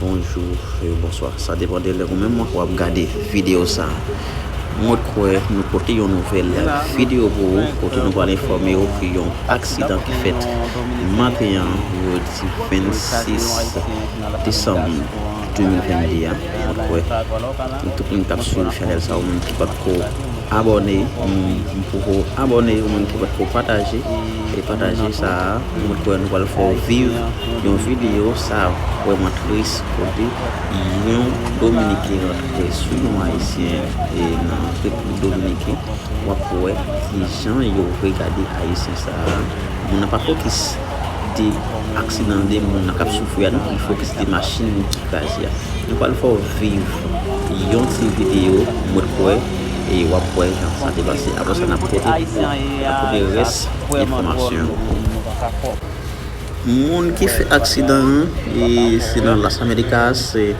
Bonjou e bonswa, sa depan de lè ou menm ou ap gade videyo sa. Mwen kwè nou pote yon nouvèl videyo pou ou kote nou pral enfòme ou ke yon aksidan ki fèt maten an jodi 26 desanm 2022 a. Mwen kwè tout moun k ap swiv chanèl sa ou menm ki patko. Abòne yon moun poko abòne yon moun ki potko pataje e pataje sa a mwen kwè nou pral fè w viv yon video sa vrèman tris kote yon dominiken rantre sou yon ayisyen e nan repiblik dominiken wap wè kijan yo regade ayisyen sa a moun nan pa fokis. de aksidan de moun nan kap soufri a nou pi fò ke se te machin ki kraze a. Nou pral fè w viv yon ti video mwen kwè e wap wè jan sa te pase apre sa nap pote nap pote rès enfòmasyon yo pou ou. Moun ki fè aksidan an e se nan Las Americas e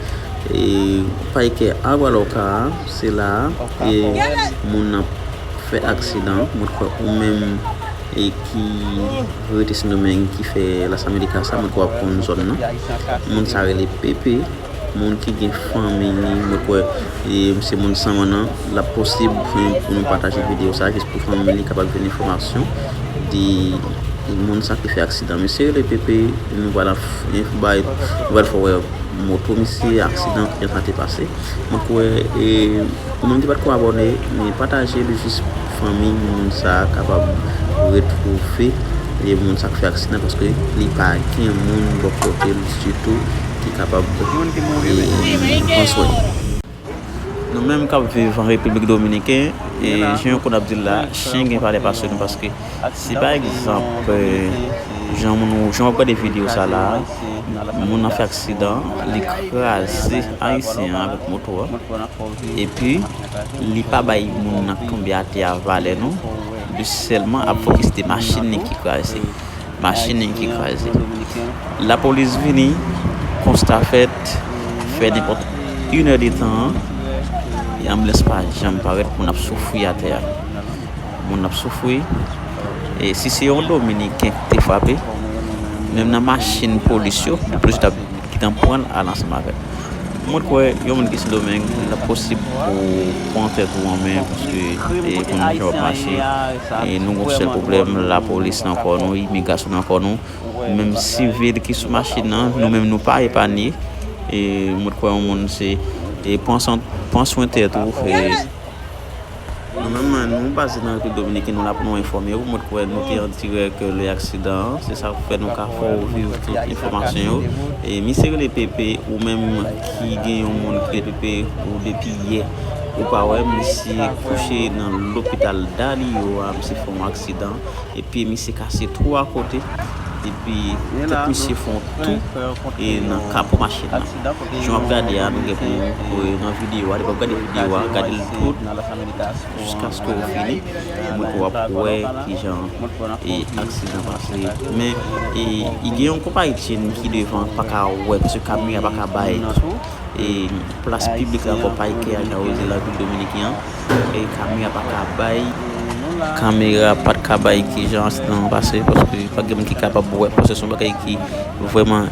Payke Agua Loca a se la a e moun nan fè aksidan mwen kwè ou menm e ki rete sendomeng ki fè las america sa mwen kwè wap konn zòn nan moun sa rele pepe moun ki gen fanmi li mwen kwè e se moun san mannan la posib pou nou pataje video sa jis pou fanmi li kapab jwen enfomasyon di moun sa ki fè aksidan misye rele pepe nou pala bay nou pal fowè moto misye aksidan kijan sa te pase mwen kwè e moun ki pat ko abòne men pataje li jis Fanmi moun sa kapab retwouve vye moun sa k fè aksidan paske li pa gen moun bò kote l ditou ki kapab pran swen li. Nou menm k ap viv an Repiblik Dominiken, jan yo konn ap di l la, chen gen valè pase nou paske si pa egzanp jan w ap gade videyo sa la a, moun nan fè aksidan, li kraze Ayisyen an avèk moto a epi. li pa bay moun nan k tonbe atè a valè non li sèlman ap fokis de machin li ki kraze machin li ki kraze lapolis vini konsta fèt fè nenpòt inè de tan e anbilans pa janm parèt moun ap soufri atè a moun ap soufri e si se yon dominiken k te frape menm nan machin polis yo lapolis tap Kitan pran l al ansanm avè l. Mwen t kwè yon moun ki sendomeng lap posib pou pran tèt ou an men paske e konn jan wap mache e nou gon sèl pwoblèm lapolis nan kò nou imigrasyon nan kò nou menm sivil ki sou machin nan nou menm nou pa epanye e mwen t kwè yon moun se e pran san pran swen tèt ou e. Nou menm nou baze nan Repiblik Dominiken nou la pou nou enfòme ou, mwen t kwè nou te an dirèk lè aksidan an, se sak fè nou ka fè ou viv tout enfòmasyon yo. Misye rele Pepe ou menm ki gen yon moun ki rele Pepe ou depi yè ou pa wè, misye kouche nan lopital Dali yo a, misye fè yon aksidan e pye misye kase 3 kote epi tèt misye fè yon tou nan kapo machin nan. Jan wap gade a nou gen pou kore nan video a depi wap gade video a gade l tout jiskaske ou fini mwen kwè wap wè kijan aksidan pase men e gen yon konpayi tren ki devan pa ka wè paske kamyon an pa ka bay plas piblik la konpayi ki a jan oze la vil dominiken an e kamyon an pa ka bay kamera pa ka bay kijan aksidan an pase paske pa gen moun ki kapab wè paske son bagay ki vreman